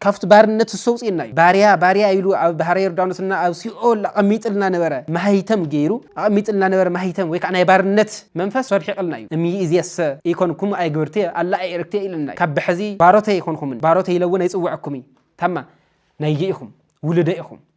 ካብቲ ባርነት እሰውጽእና እዩ ባርያ ባርያ ኢሉ ኣብ ባሕረ ዮርዳኖስ እና ኣብ ሲኦል ኣቐሚጥልና ነበረ ማህይተም ገይሩ ኣቐሚጥልና ነበረ ማህይተም ወይ ከኣ ናይ ባርነት መንፈስ ሶብሒቕልና እዩ እምይእዜሰ ኢኮንኩም ኣይግብርትየ ኣላ ኣይእርክትየ ኢለና እዩ ካብ ብሐዚ ባሮተይ ኣይኮንኹምን ባሮተይ ኢለ እውን ኣይጽውዐኩምይ ታማ ናይየ ኢኹም ውሉደይ ኢኹም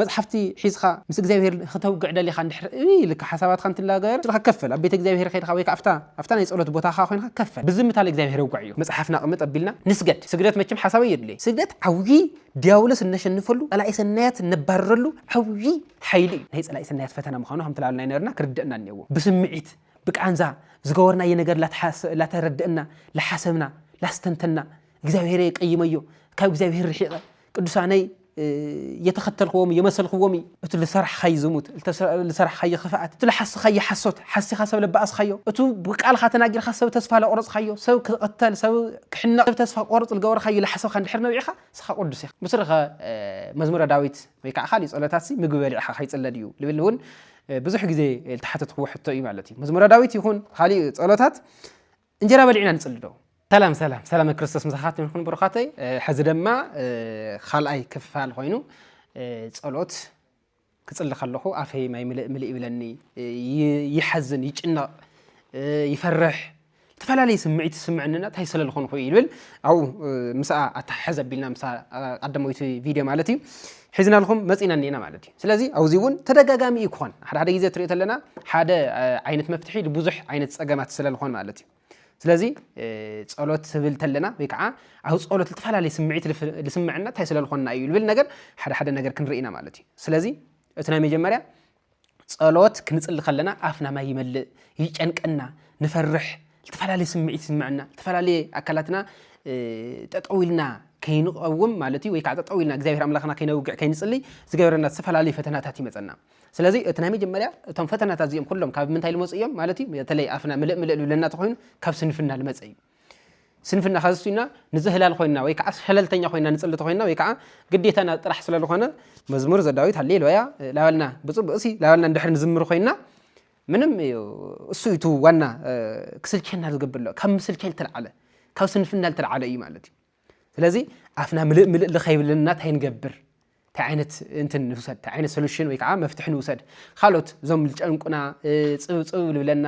መጽሓፍቲ ሒዝካ ምስ እግዚኣብሄር ኽተውግዕ ደሊኻ እንድሕር እይ ኢልካ ሓሳባትካ እንትላገር ንስኻ ከፈል ኣብ ቤተ እግዚኣብሄር ኸይድካ ወይ ከኣ ኣብታ ኣብታ ናይ ጸሎት ቦታኻ ኮይንካ ከፈል ብዝምታ ልእግዚኣብሄር ኣውግዐዮ መጽሓፍና ቅምጥ ኣቢልና ንስገድ ስግደት መቸም ሓሳብ ኣየድልዮይ ስግደት ዓውዪ ድያብሎስ እነሸንፈሉ ጸላኢ ሰናያት እነባርረሉ ዓውዪ ሓይሊ እዩ ናይ ጸላኢ ሰናያት ፈተና ምዃኑ ከምቲ ላበልና ኣይነበርና ክርደእና እንየዎ ብስምዒት ብቃንዛ ዝገበርናዮ ነገር ላተረደእና ላሓሰብና ላስተንተና እግዚኣብሄረይ ቀይመዮ ካብ እግዚኣብሄር ርሒቐ ቅዱሳነይ እየተኸተልክዎም እየመሰልክዎም እዩ እቲ ልሰርሕኻይ ዝሙት ልሰርሕኻዮ ክፍኣት እቲ ልሓስኻዮ ሓሶት ሓሲኻ ሰብ ለባኣስኻዮ እቱ ብቃልኻ ተናጊርካ ሰብ ተስፋ ለቑረፅኻዮ ሰብ ክቕተል ሰብ ክሕነቕ ሰብ ተስፋ ክቆርፅ ልገበርኻዮ ልሓሰብካ እንድሕር ነቢዕኻ ንስኻ ቅዱስ ኢኻ ምስሪኸ መዝሙረ ዳዊት ወይ ከዓ ካሊእ ፀሎታትሲ ምግቢ በሊዕኻ ከይፅለ ድዩ ልብል እውን ብዙሕ ግዜ ልተሓተትክዎ ሕቶ እዩ ማለት እዩ መዝሙረ ዳዊት ይኹን ካሊእ ፀሎታት እንጀራ በሊዕና ንጽሊ ዶ? ሰላም ሰላም ሰላመ ክርስቶስ ምሳኻትኩም ይኹን ብሩኻተይ። ሕዚ ደማ ካልኣይ ክፋል ኮይኑ ጸሎት ክጽሊ ከለኹ ኣፈይ ማይ ምልእ ምልእ ይብለኒ፣ ይሓዝን፣ ይጭነቕ፣ ይፈርሕ ተፈላለየ ስምዒት ዝስምዕንና እንታይ ስለ ዝኾንኹ ይብል ኣብኡ ምስኣ ኣተሓሕዝ ኣቢልና ምስ ቀዳመይቲ ቪድዮ ማለት እዩ ሒዝናልኩም መጺእና እኒኤና ማለት እዩ። ስለዚ ኣብዚ እውን ተደጋጋሚ እዩ ክኾን። ሓደ ሓደ ግዜ ትሪኦ ተለና ሓደ ዓይነት መፍትሒ ብዙሕ ዓይነት ጸገማት ስለ ዝኾን ማለት እዩ። ስለዚ ጸሎት ስብል ተለና ወይ ከዓ ኣብ ጸሎት ዝተፈላለየ ስምዒት ልስምዐና እንታይ ስለ ዝኾንና እዩ ልብል ነገር ሓደ ሓደ ነገር ክንርኢና ማለት እዩ። ስለዚ እቲ ናይ መጀመርያ ጸሎት ክንጽሊ ከለና ኣፍና ማይ ይመልእ፣ ይጨንቀና፣ ንፈርሕ፣ ዝተፈላለየ ስምዒት ይስምዐና፣ ዝተፈላለየ ኣካላትና ጠጠው ኢልና ከይንቐውም ማለት እዩ ወይ ከዓ ጠጠው ኢልና እግዚኣብሔር ኣምላኽና ከይነውግዕ ከይንጽልይ ዝገበረና ዝተፈላለዩ ፈተናታት ይመፀና ስለዚ እቲ ናይ መጀመርያ እቶም ፈተናታት እዚኦም ኩሎም ካብ ምንታይ ልመፁ እዮም ማለት እዩ በተለይ ኣፍና ምልእ ምልእ ልብለና ተኮይኑ ካብ ስንፍና ልመፀ እዩ ስንፍና ካብ ዝስዩና ንዘህላል ኮይና ወይ ከዓ ሸለልተኛ ኮይና ንፅሊ ተኮይና ወይ ከዓ ግዴታና ጥራሕ ስለ ዝኾነ መዝሙር ዘዳዊት ሃሌሉያ ላበልና ብፅቡቅ ሲ ላበልና እንድሕር ንዝምር ኮይና ምንም እዩ እሱ እዩ ዋና ክስልቸና ዝገብር ካብ ምስልቸል ተልዓለ ካብ ስንፍና ዝተልዓለ እዩ ማለት እዩ ስለዚ ኣፍና ምልእ ምልእ ልኸይብለና እንታይ ንገብር እንታይ ዓይነት እንትን ንውሰድ እንታይ ዓይነት ሶሉሽን ወይ ከዓ መፍትሒ ንውሰድ ካልኦት እዞም ዝጨንቁና ፅብፅብ ልብለና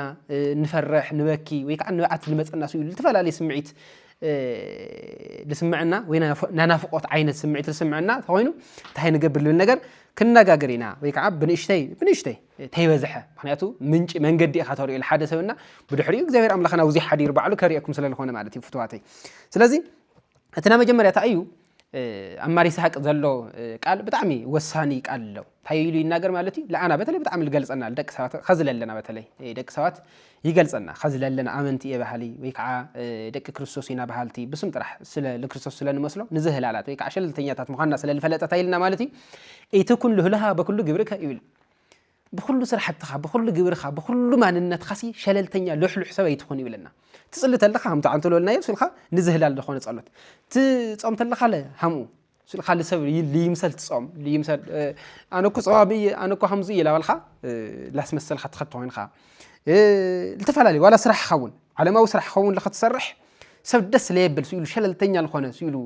ንፈርሕ ንበኪ ወይ ከዓ ንብዓት ልመፀና ስኡ ዝተፈላለዩ ስምዒት ልስምዐና ወይ ናናፍቆት ዓይነት ስምዒት ልስምዐና ተኮይኑ እንታይ ንገብር ልብል ነገር ክንነጋገር ኢና ወይ ከዓ ብንእሽተይ ብንእሽተይ ተይበዝሐ ምክንያቱ ምንጪ መንገዲ ኢካ ተሪኦ ልሓደ ሰብ እና ብድሕሪኡ እግዚኣብሔር ኣምላክ ናብዙይ ሓዲሩ ባዕሉ ከሪኤኩም ስለልኮነ ማለት እዩ ፍትዋተይ ስለዚ እቲ ናይ መጀመርያ እንታይ እዩ ኣብ ማር ይስሐቅ ዘሎ ቃል ብጣዕሚ ወሳኒ ቃል ኣሎ እንታይ ኢሉ ይናገር ማለት እዩ ለኣና በተለይ ብጣዕሚ ዝገልፀና ደቂ ሰባት ከዚ ለለና በተለይ ደቂ ሰባት ይገልፀና ከዚ ለለና ኣመንቲ እየ ባህሊ ወይ ከዓ ደቂ ክርስቶስ ኢና ባህልቲ ብስም ጥራሕ ስለ ንክርስቶስ ስለ ንመስሎ ንዝህላላት ወይ ከዓ ሸለልተኛታት ምኳንና ስለ ዝፈለጠት ኢልና ማለት እዩ እቲ ኩሉ ህልሃ በኩሉ ግብርከ ይብል ብኹሉ ስራሕትኻ ብኹሉ ግብርኻ ብኹሉ ማንነትኻሲ ሸለልተኛ ልሕሉሕ ሰብ ኣይትኹን ይብለና ትፅሊ ተለኻ ሃም ተዓንቶ ልበልናዮ ስልካ ንዝህላል ዝኾነ ጸሎት ትጾም ተለኻ ለ ሃምኡ ስልካ ልሰብ ልይምሰል ትጾም ልይምሰል ኣነ እኮ ጸዋቢ እየ ኣነ እኮ ሃምዙ እየ ላበልካ ላስመሰልካ ትኸድ ተኾይንኻ ዝተፈላለዩ ዋላ ስራሕኻ እውን ዓለማዊ ስራሕ ኸውን ልኸትሰርሕ ሰብ ደስ ለየብል ስኢሉ ሸለልተኛ ዝኾነ ስኢሉ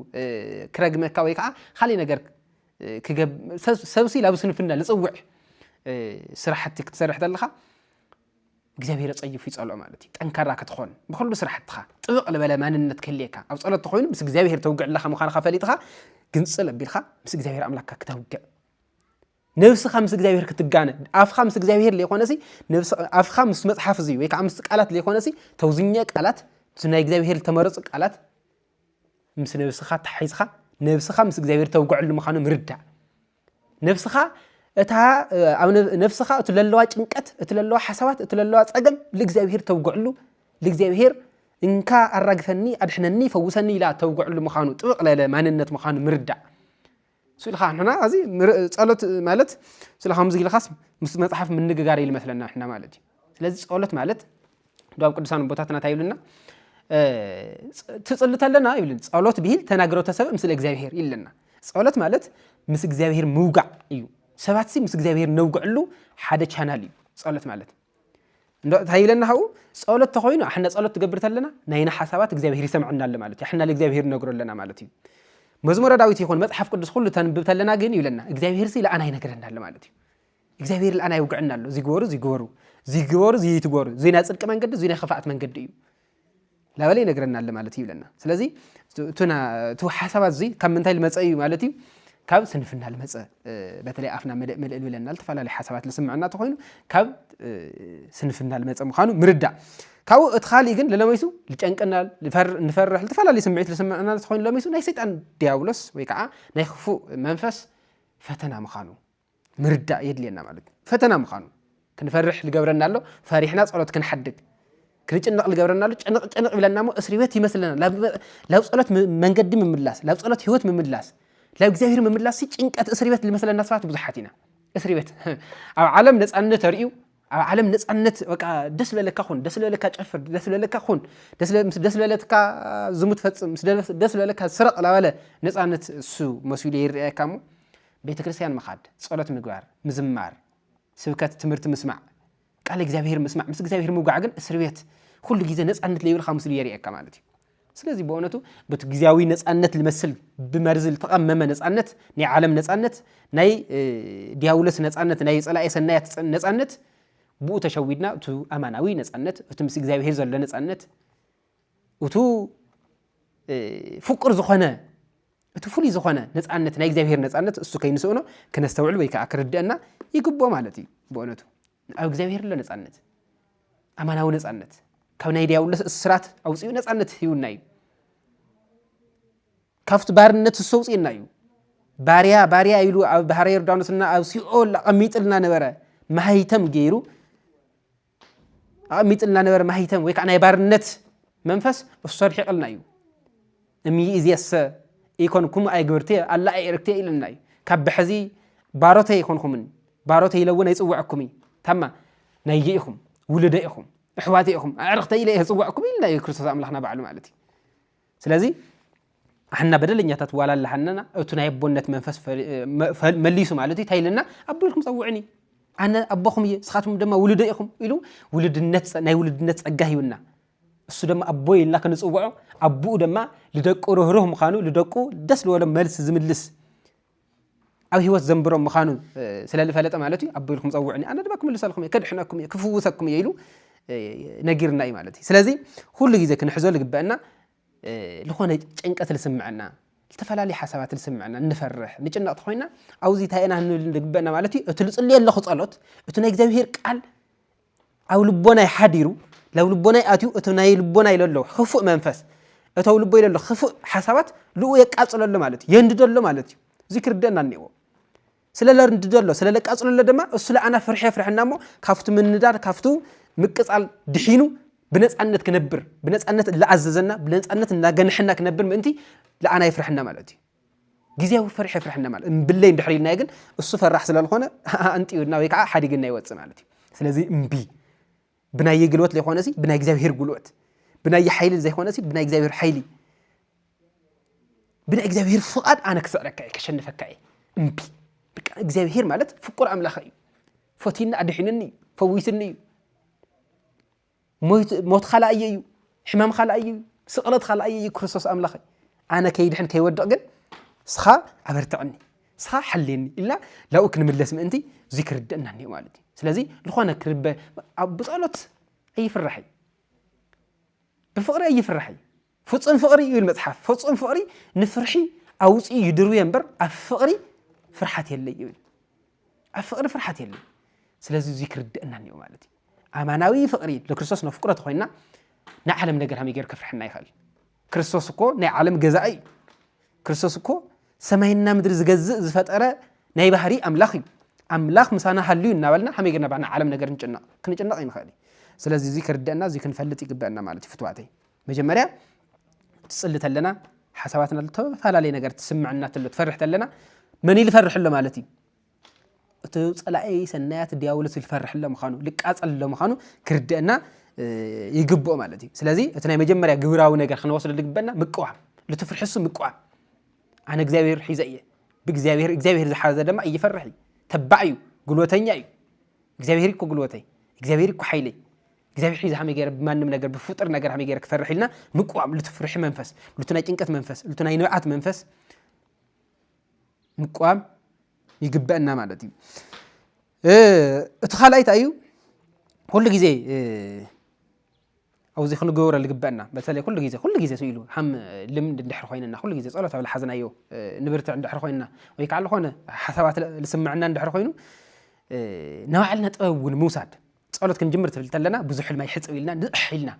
ክረግመካ ወይ ከዓ ካልእ ነገር ሰብሲ ላብ ስንፍና ልፅውዕ ስራሕቲ ክትሰርሕ ተለኻ እግዚኣብሔር ጸይፉ ይጸልኦ ማለት እዩ ጠንካራ ክትኾን ብኩሉ ስራሕትኻ ጥብቕ ልበለ ማንነት ክህልየካ ኣብ ጸሎት ተኮይኑ ምስ እግዚኣብሔር ተውግዕ ኣለኻ ምዃንኻ ፈሊጥኻ ግንጽል ኣቢልካ ምስ እግዚኣብሔር ኣምላክካ ክተውግዕ ነብስኻ ምስ እግዚኣብሔር ክትጋነ ኣፍኻ ምስ እግዚኣብሔር ዘይኮነሲ ኣፍኻ ምስ መፅሓፍ እዚ ወይ ከዓ ምስ ቃላት ዘይኮነሲ ተውዝኘ ቃላት ምስ ናይ እግዚኣብሔር ዝተመረፁ ቃላት ምስ ነብስኻ ተሓይዝካ ነብስኻ ምስ እግዚኣብሔር ተውግዐሉ ምዃኑ ምርዳእ ነብስኻ እታ ኣብ ነብስኻ እቲ ለለዋ ጭንቀት እቲ ለለዋ ሓሳባት እቲ ለለዋ ፀገም ልእግዚኣብሔር ተውግዕሉ ልእግዚኣብሔር እንካ ኣራግፈኒ ኣድሕነኒ ፈውሰኒ ኢላ ተውግዕሉ ምዃኑ ጥብቕ ለለ ማንነት ምዃኑ ምርዳእ ስእሊ ከኣ ንሕና ኣዚ ጸሎት ማለት ስለ ከምዚ ኢልካስ ምስ መጽሓፍ ምንግጋር ኢሉ መስለና ንሕና ማለት እዩ ስለዚ ጸሎት ማለት ዶብ ቅዱሳን ቦታትና እንታይ ይብልና ትጽሊ ተለና ይብልን ጸሎት ብሂል ተናግረው ተሰብ ምስለ እግዚኣብሄር ይለና ጸሎት ማለት ምስ እግዚኣብሄር ምውጋዕ እዩ ሰባትሲ ምስ እግዚኣብሄር ነውግዕሉ ሓደ ቻናል እዩ ጸሎት ማለት እንታይ ይብለና ካብኡ ጸሎት ተኮይኑ ኣሕና ጸሎት ትገብር ተለና ናይና ሓሳባት እግዚኣብሄር ይሰምዐና ኣሎ ማለት እዩ ኣሕና ንእግዚኣብሄር ነግሮ ኣለና ማለት እዩ መዝሙረ ዳዊት ይኹን መጽሓፍ ቅዱስ ኩሉ ተንብብ ተለና ግን ይብለና እግዚኣብሄር ሲ ለኣና ይነግረና ኣሎ ማለት እዩ እግዚኣብሄር ለኣና ይውግዐና ኣሎ ዝግበሩ ዝግበሩ ዝግበሩ ዝይትግበሩ እዙይ ናይ ጽድቂ መንገዲ እዙይ ናይ ክፋኣት መንገዲ እዩ ላበለ ይነግረና ኣለ ማለት እዩ ይብለና ስለዚ እቲ ሓሳባት እዚ ካብ ምንታይ ልመፀ እዩ ማለት እዩ ካብ ስንፍና ልመፀ በተለይ ኣፍና መልእል ብለና ዝተፈላለዩ ሓሳባት ልስምዐና ተኮይኑ ካብ ስንፍና ልመፀ ምኳኑ ምርዳእ ካብኡ እቲ ካሊእ ግን ለለመይሱ ልጨንቀና ንፈርሕ ዝተፈላለዩ ስምዒት ልስምዐና ተኮይኑ ለመይሱ ናይ ሰይጣን ዲያብሎስ ወይ ከዓ ናይ ክፉእ መንፈስ ፈተና ምኳኑ ምርዳእ የድልየና ማለት እዩ ፈተና ምዃኑ ክንፈርሕ ዝገብረና ኣሎ ፈሪሕና ፀሎት ክንሓድግ ክንጭነቕ ዝገብረና ኣሎ ጭንቕ ጭንቕ ይብለና እሞ እስሪ ቤት ይመስለና ላብ ፀሎት መንገዲ ምምላስ ላብ ፀሎት ህይወት ምምላስ ላብ እግዚኣብሔር ምምላስ ጭንቀት እስሪ ቤት ዝመስለና ሰባት ብዙሓት ኢና እስሪ ቤት ኣብ ዓለም ነፃነት ተርእዩ ኣብ ዓለም ነፃነት በቃ ደስ ለለካ ኩን ደስ ለለካ ጨፍር ደስ ለለካ ኩን ምስ ደስ ለለትካ ዝሙት ፈፅም ምስ ደስ ለለካ ስረቕ ላበለ ነፃነት እሱ መሲሉ ይርኣየካ እሞ ቤተ ክርስቲያን ምኻድ ጸሎት ምግባር ምዝማር ስብከት ትምህርቲ ምስማዕ ቃል እግዚኣብሔር ምስማዕ ምስ እግዚኣብሔር ምውጋዕ ግን እስር ቤት ኩሉ ግዜ ነፃነት ለይብልካ ምስሉ የርእየካ ማለት እዩ ስለዚ በእውነቱ በቲ ግዜያዊ ነፃነት ልመስል ብመርዚ ልተቐመመ ነፃነት ናይ ዓለም ነፃነት ናይ ዲያብሎስ ነፃነት ናይ ፀላኢ ሰናያት ነፃነት ብኡ ተሸዊድና እቲ ኣማናዊ ነፃነት እቲ ምስ እግዚኣብሄር ዘሎ ነፃነት እቱ ፍቁር ዝኾነ እቲ ፍሉይ ዝኾነ ነፃነት ናይ እግዚኣብሄር ነፃነት እሱ ከይንስእኖ ክነስተውዕል ወይ ከዓ ክርድአና ይግብኦ ማለት እዩ ብእውነቱ ኣብ እግዚኣብሔር ኣሎ ነፃነት ኣማናዊ ነፃነት ካብ ናይ ዲያብሎስ እስራት ኣውፅኡ ነፃነት ሂቡና እዩ ካብቲ ባርነት እሱ ኣውፅእና እዩ ባርያ ባርያ ኢሉ ኣብ ባህረ ዮርዳኖስና ኣብ ሲኦል ኣቐሚጥልና ነበረ ማህይተም ገይሩ ኣቐሚጥልና ነበረ ማህይተም ወይ ከዓ ናይ ባርነት መንፈስ እሱ ኣድሒቕልና እዩ እምይእዜሰ ኢኮንኩም ኣይግብርትየ ኣላ ኣይእርክትየ ኢለና እዩ ካብ ብሐዚ ባሮተይ ኣይኮንኹምን ባሮተይ ኢለ እውን ኣይፅውዐኩም እዩ ታማ ናይየ ኢኹም ውልደ ኢኹም እሕዋተ ኢኹም ኣዕርኽተይ ኢለ ዝፅውዐኩም ኢልና እዩ ክርስቶስ ኣምላኽና ባዕሉ ማለት እዩ ስለዚ ኣሕና በደለኛታት ዋላ ኣለሃነና እቱ ናይ ኣቦነት መንፈስ መሊሱ ማለት እዩ እንታይ ኢለና ኣቦ ኢልኩም ፀውዕኒ ኣነ ኣቦኹም እየ ስኻትኩም ድማ ውልደ ኢኹም ኢሉ ውልድነት ናይ ውልድነት ፀጋ ሂብና እሱ ደማ ኣቦይ ኢልና ክንጽውዖ ኣቡኡ ደማ ልደቁ ርህሩህ ምዃኑ ልደቁ ደስ ልበሎም መልሲ ዝምልስ ኣብ ህይወት ዘንብሮም ምዃኑ ስለ ልፈለጠ ማለት እዩ ኣቦ ኢልኩም ፀውዕኒ ኣነ ድማ ክምልሰልኩም እየ ከድሕነኩም እየ ክፍውሰኩም እየ ኢሉ ነጊርና እዩ ማለት እዩ ስለዚ ኩሉ ግዜ ክንሕዞ ልግበአና ዝኾነ ጭንቀት ልስምዐና ዝተፈላለዩ ሓሳባት ልስምዐና ንፈርሕ ንጭነቕ ተኮይና ኣብዚ እንታይ ኢና ንብል ልግበአና ማለት እዩ እቲ ልፅልዮ ኣለኹ ፀሎት እቲ ናይ እግዚኣብሄር ቃል ኣብ ልቦናይ ሓዲሩ ላብ ልቦናይ ኣትዩ እቲ ናይ ልቦናይ ለሎ ክፉእ መንፈስ እተው ልቦይ ለሎ ክፉእ ሓሳባት ልኡ የቃፅለሎ ማለት እዩ የንድደሎ ማለት እዩ እዚ ክርደና እኒዎ ስለ ለንድደሎ ስለ ለቃፅለሎ ድማ እሱ ለኣና ፍርሒ የፍርሐና እሞ ካብቲ ምንዳድ ካብቱ ምቅፃል ድሒኑ ብነፃነት ክነብር ብነፃነት እላኣዘዘና ብነፃነት እናገንሐና ክነብር ምእንቲ ለኣና የፍርሐና ማለት እዩ ግዝያዊ ፍርሒ የፍርሐና ማለት እምብለይ እንድሕር ኢልናዮ ግን እሱ ፈራሕ ስለ ዝኾነ ኣንጥዩና ወይ ከዓ ሓዲግና ይወፅእ ማለት እዩ ስለዚ እምቢ ብናየ ግልወት ዘይኮነ ሲ ብናይ እግዚኣብሄር ጉልወት ብናየ ሓይሊ ዘይኮነ ሲ ብናይ እግዚኣብሄር ሓይሊ ብናይ እግዚኣብሄር ፍቓድ ኣነ ክስዕረካ እየ ከሸንፈካ እየ እምቢ በቃ እግዚኣብሄር ማለት ፍቁር ኣምላኽ እዩ ፈትዩኒ ኣድሒኑኒ እዩ ፈዊስኒ እዩ ሞት ኻልኣየ እዩ ሕማም ኻልኣየ እዩ ስቕለት ኻልኣየ እዩ ክርስቶስ ኣምላኸይ ኣነ ከይድሕን ከይወድቕ ግን ስኻ ኣበርትዕኒ ስኻ ሓልየኒ ኢልና ላብኡ ክንምለስ ምእንቲ እዙይ ክርድእና እኒኦ ማለት እዩ ስለዚ ዝኾነ ክርበ ብፀሎት ኣይፍራሕ እዩ ብፍቕሪ ኣይፍራሕ እዩ ፍጹም ፍቕሪ ይብል መጽሓፍ፣ ፍጹም ፍቕሪ ንፍርሒ ኣውጺኡ ይድርብዮ እምበር ኣብ ፍቕሪ ፍርሓት የለይ ይብል። ኣብ ፍቕሪ ፍርሓት የለይ። ስለዚ እዚ ክርደአና እኒኦ ማለት እዩ። ኣማናዊ ፍቕሪ ንክርስቶስ ነፍቅሮ ተኾይንና ናይ ዓለም ነገር ሃመይ ገይሩ ከፍርሐና ይኽእል? ክርስቶስ እኮ ናይ ዓለም ገዛኢ እዩ። ክርስቶስ እኮ ሰማይና ምድሪ ዝገዝእ ዝፈጠረ ናይ ባህሪ ኣምላኽ እዩ። ኣምላኽ ምሳና ሃልዩ እናበልና ሃመይ ገርና ባዕና ዓለም ነገር ንጭነቕ ክንጭነቕ ይንኽእል እዩ። ስለዚ እዚ ክርደአና እዚ ክንፈልጥ ይግበአና ማለት እዩ ፍትዋተይ። መጀመርያ ትጽሊ ተለና ሓሳባትና ኣሎ ተፈላለየ ነገር ትስምዐና ተሎ ትፈርሕ ተለና መን ልፈርሕ ኣሎ ማለት እዩ እቲ ፀላኢ ሰናያት ዲያብሎስ ዝፈርሕ ኣሎ ምዃኑ ልቃፀል ኣሎ ምዃኑ ክርድአና ይግብኦ ማለት እዩ ስለዚ እቲ ናይ መጀመርያ ግብራዊ ነገር ክንወስዶ ዝግበና ምቅዋም ልትፍርሕሱ ምቅዋም ኣነ እግዚኣብሔር ሒዘ እየ ብእግዚኣብሔር እግዚኣብሔር ዝሓዘ ድማ እይፈርሕ እዩ ተባዕ እዩ ጉልበተኛ እዩ እግዚኣብሔር እኮ ጉልበተይ እግዚኣብሔር እኮ ሓይለይ እግዚኣብሔር ሒዚ ሃመይ ገይረ ብማንም ነገር ብፍጡር ነገር ሃመይ ገይረ ክሰርሕ ኢልና ምቅዋም ልቱ ፍርሒ መንፈስ ልቱ ናይ ጭንቀት መንፈስ ልቱ ናይ ንብዓት መንፈስ ምቅዋም ይግበአና ማለት እዩ እቲ ካልኣይ እንታይ እዩ ኩሉ ግዜ ኣብዚ ክንገብረ ዝግበአና በተለይ ኩሉ ግዜ ኩሉ ግዜ ኢሉ ሃም ልምድ እንድሕር ኮይንና ኩሉ ግዜ ፀሎት ኣብ ዝሓዝናዮ ንብርትዕ እንድሕር ኮይንና ወይ ከዓ ዝኾነ ሓሳባት ዝስምዐና እንድሕር ኮይኑ ንባዕልና ጥበብ እውን ምውሳድ ጸሎት ክንጅምር ትብል ተለና ብዙሕ ድማ ይሕጽብ ኢልና ንቕሕ ኢልና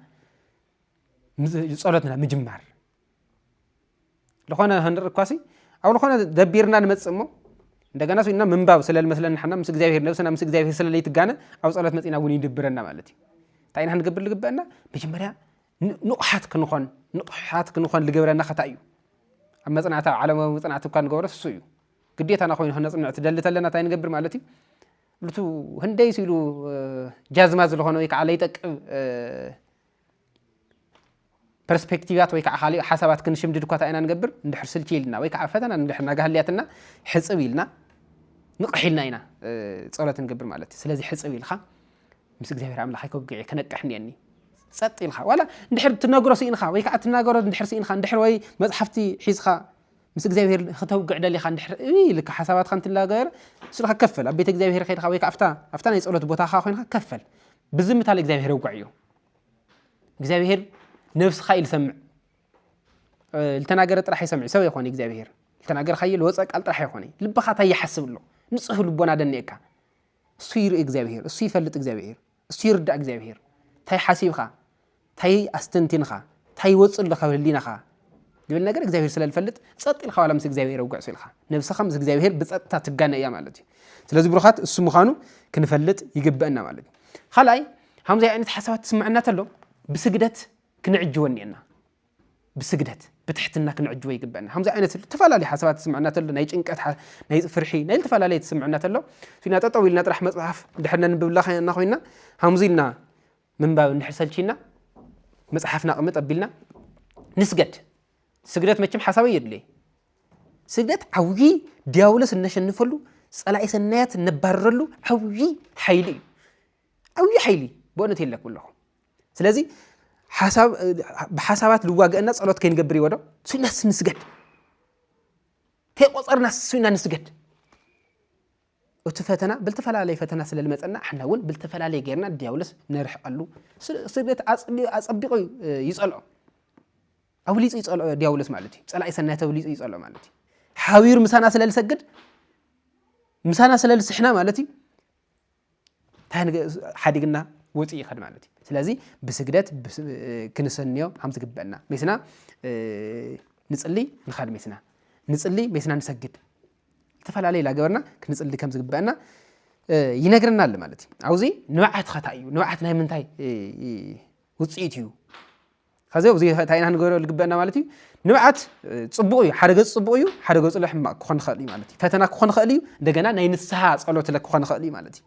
ጸሎትና ምጅማር ዝኾነ ክንርኢ እኳሲ ኣብ ዝኾነ ደቢርና ንመጽእ እሞ እንደገና ስኢና ምንባብ ስለ ዝመስለና ሓና ምስ እግዚኣብሄር ነብስና ምስ እግዚኣብሄር ስለ ለይትጋነ ኣብ ጸሎት መጺና እውን ይድብረና ማለት እዩ እንታይ ኢና ክንገብር ዝግበአና መጀመርያ ንቑሓት ክንኾን ንቑሓት ክንኾን ዝገብረና ከታ እዩ ኣብ መፅናዕቲ ኣብ ዓለማዊ መፅናዕቲ እኳ ንገብሮ እሱ እዩ ግዴታና ኮይኑ ክነፅንዕ ትደሊ ተለና እንታይ ንገብር ማለት እዩ ብቱ ህንደይ ስኢሉ ጃዝማ ዝለኾነ ወይ ከዓ ለይጠቅብ ፐርስፔክቲቫት ወይ ከዓ ካልእ ሓሳባት ክንሽምድድ እኳ ኢና ንገብር እንድሕር ስልቺ ኢልና ወይ ከዓ ፈተና እንድሕር ናጋህልያትና ሕፅብ ኢልና ንቕሕ ኢልና ኢና ፀሎት ንገብር ማለት እዩ ስለዚ ሕፅብ ኢልካ ምስ እግዚኣብሔር ኣምላኽ ኣይከብግዕ ክነቅሕ እኒአኒ ፀጥ ኢልካ ዋላ እንድሕር ትነግሮ ስኢንካ ወይ ከዓ ትናገሮ እንድሕር ስኢንካ እንድሕር ወይ መፅሓፍቲ ሒዝካ ምስ እግዚኣብሄር ክተውግዕ ደሊኻ እንድሕር ኢልካ ሓሳባትካ እንትላገር ስልካ ከፈል ኣብ ቤተ እግዚኣብሄር ከድካ ወይ ኣብታ ኣብታ ናይ ጸሎት ቦታኻ ኮይንካ ከፈል ብዝምታ ንእግዚኣብሄር ውግዕ እዩ እግዚኣብሄር ነብስኻ እዩ ዝሰምዕ ዝተናገረ ጥራሕ ይሰምዕ ሰብ ይኾነ እግዚኣብሄር ዝተናገርካዮ ዝወፀ ቃል ጥራሕ ይኾነ ልብኻ እንታይ ይሓስብ ኣሎ ንፁህ ልቦና ደኒኤካ እሱ ይርኢ እግዚኣብሄር እሱ ይፈልጥ እግዚኣብሄር እሱ ይርዳእ እግዚኣብሄር ታይ ሓሲብኻ ታይ ኣስተንቲንኻ ታይ ይወፅእ ኣሎ ካብ ህሊናኻ ልብል ነገር እግዚኣብሄር ስለ ዝፈልጥ ፀጥ ኢልካ ዋላ ምስ እግዚኣብሄር ውግዕሱ ኢልካ ነብስኻ ምስ እግዚኣብሄር ብፀጥታ ትጋነ እያ ማለት እዩ ስለዚ ብሩኻት እሱ ምዃኑ ክንፈልጥ ይግበአና ማለት እዩ ካልኣይ ሃምዚ ዓይነት ሓሳባት ትስምዐና ተሎ ብስግደት ክንዕጅቦ እኒአና ብስግደት ብትሕትና ክንዕጅቦ ይግበአና ከምዚ ዓይነት ዝተፈላለዩ ሓሳባት ዝስምዐና ተሎ ናይ ጭንቀት ናይ ፍርሒ ናይ ዝተፈላለየ ዝስምዐና ተሎ ሱና ጠጠው ኢልና ጥራሕ መፅሓፍ ድሕር ነንብብላ እና ኮይና ከምዚ ኢልና ምንባብ እንድሕር ሰልቺና መፅሓፍና ቅምጥ ኣቢልና ንስገድ ስግደት መቸም ሓሳበይ የድልየ ስግደት ዓብዪ ዲያብሎስ እነሸንፈሉ ፀላኢ ሰናያት እነባርረሉ ዓብዪ ሓይሊ እዩ ዓብዪ ሓይሊ ብእውነት የለኩም ኣለኹ ስለዚ ብሓሳባት ልዋገእና ጸሎት ከይንገብር ይወዶ ስናስ ንስገድ ከይቆጸርና ስና ንስገድ እቲ ፈተና ብልተፈላለየ ፈተና ስለ ዝመፀና ኣሕና እውን ብልተፈላለየ ጌርና ዲያብሎስ ንርሕቀሉ ስደት ኣፀቢቑ ይፀልዖ ኣብሊፁ ይፀልዖ ዲያብሎስ ማለት እዩ ፀላኢ ሰናይ ተብሊፁ ይፀልዖ ማለት እዩ ሓቢሩ ምሳና ስለ ዝሰግድ ምሳና ስለ ዝስሕና ማለት እዩ ሓዲግና ወፂኡ ይኸድ ማለት እዩ ስለዚ ብስግደት ክንሰንዮ ከም ዝግበአና ሜስና ንፅሊ ንኸድ ሜስና ንፅሊ ሜስና ንሰግድ ዝተፈላለየ ላገበርና ክንፅሊ ከም ዝግበአና ይነግረና ኣሎ ማለት እዩ ኣብዚ ንብዓት ኸታ እዩ ንብዓት ናይ ምንታይ ውፅኢት እዩ ከዚ ኣብዚ እንታይ ኢና ክንገብሮ ዝግበአና ማለት እዩ ንብዓት ፅቡቕ እዩ ሓደ ገፅ ፅቡቕ እዩ ሓደ ገፁ ለ ሕማቕ ክኾን ይኽእል እዩ ማለት እዩ ፈተና ክኾን ይኽእል እዩ እንደገና ናይ ንስሓ ፀሎት ለ ክኾን ይኽእል እዩ ማለት እዩ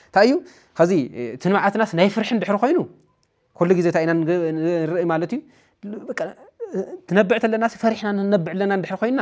እንታይ እዩ ከዚ እቲ ንብዓትናስ ናይ ፍርሒ ድሕሪ ኮይኑ ኩሉ ግዜ እንታይ ኢና ንርኢ ማለት እዩ ትነብዕ ተለናስ ፈሪሕና ንነብዕ ኣለና ድሕሪ ኮይና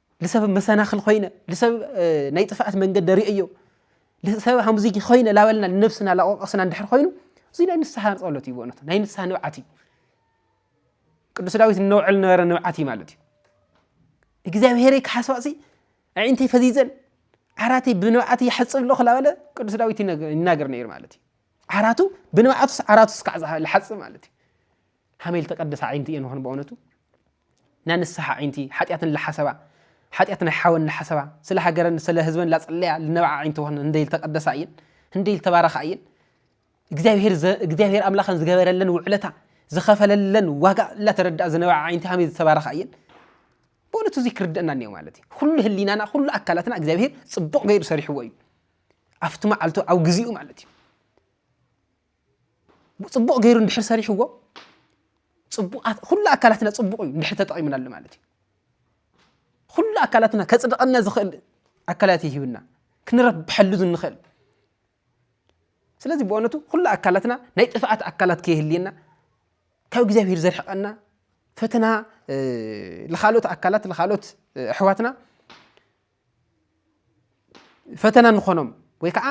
ልሰብ መሰናኽል ኮይነ ልሰብ ናይ ጥፍኣት መንገዲ ርእዮ ልሰብ ሃምዚ ኮይነ ላበልና ንነብስና ላቆቀስና እንድሕር ኮይኑ እዚ ናይ ንስሓ ጸሎት እዩ ብእውነት ናይ ንስሓ ንብዓት እዩ ቅዱስ ዳዊት እነውዕል ነበረ ንብዓት እዩ ማለት እዩ እግዚኣብሄረይ ክሓስባሲ ኣዒንተይ ፈዚዘን ዓራተይ ብንብዓት ይሓፅብ ኣለኹ ላበለ ቅዱስ ዳዊት ይናገር ነይሩ ማለት እዩ ዓራቱ ብንብዓቱስ ዓራቱስ ካዕ ዝሓፅብ ማለት እዩ ከመይ ልተቀደሳ ኣዒንቲ እየን ኾን ብእውነቱ ናይ ንስሓ ኣዒንቲ ሓጢኣትን ልሓሰባ ሓጢኣት ናይ ሓወን ልሓሰባ ስለ ሃገረን ስለ ህዝበን ላፅለያ ልነብዓ ኣዒንቲ ኾን እንደይ ልተቀደሳ እየን እንደይ ልተባረኻ እየን እግዚኣብሔር እግዚኣብሔር ኣምላኸን ዝገበረለን ውዕለታ ዝኸፈለለን ዋጋ እላተረድኣ ዝነበዓ ዓይንቲ ከመይ ዝተባረኻ እየን ብእውነቱ እዚ ክርድእና እኒኦ ማለት እዩ ኩሉ ህሊናና ኩሉ ኣካላትና እግዚኣብሄር ፅቡቕ ገይሩ ሰሪሕዎ እዩ ኣብቲ መዓልቱ ኣብ ግዜኡ ማለት እዩ ፅቡቕ ገይሩ እንድሕር ሰሪሕዎ ፅቡቃት ኩሉ ኣካላትና ፅቡቕ እዩ እንድሕር ተጠቒምናሉ ማለት እዩ ኩሉ ኣካላትና ከፅድቐና ዝኽእል ኣካላት ይህብና ክንረብሐሉ ዝንኽእል ስለዚ ብእውነቱ ኩሉ ኣካላትና ናይ ጥፍኣት ኣካላት ከይህልየና ካብ እግዚኣብሄር ዘርሕቐና ፈተና ንካልኦት ኣካላት ንካልኦት ኣሕዋትና ፈተና ንኾኖም ወይ ከዓ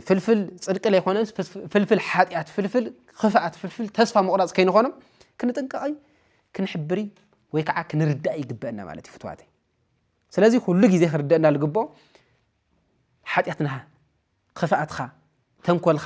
ፍልፍል ፅድቂ ዘይኮነስ ፍልፍል ሓጢኣት ፍልፍል ክፍኣት ፍልፍል ተስፋ ምቑራፅ ከይንኾኖም ክንጥንቀቐይ ክንሕብሪ ወይ ከዓ ክንርዳእ ይግበአና ማለት እዩ ፍትዋተይ ስለዚ ኩሉ ግዜ ክርደአና ዝግብኦ ሓጢኣትና ክፍኣትካ ተንኮልካ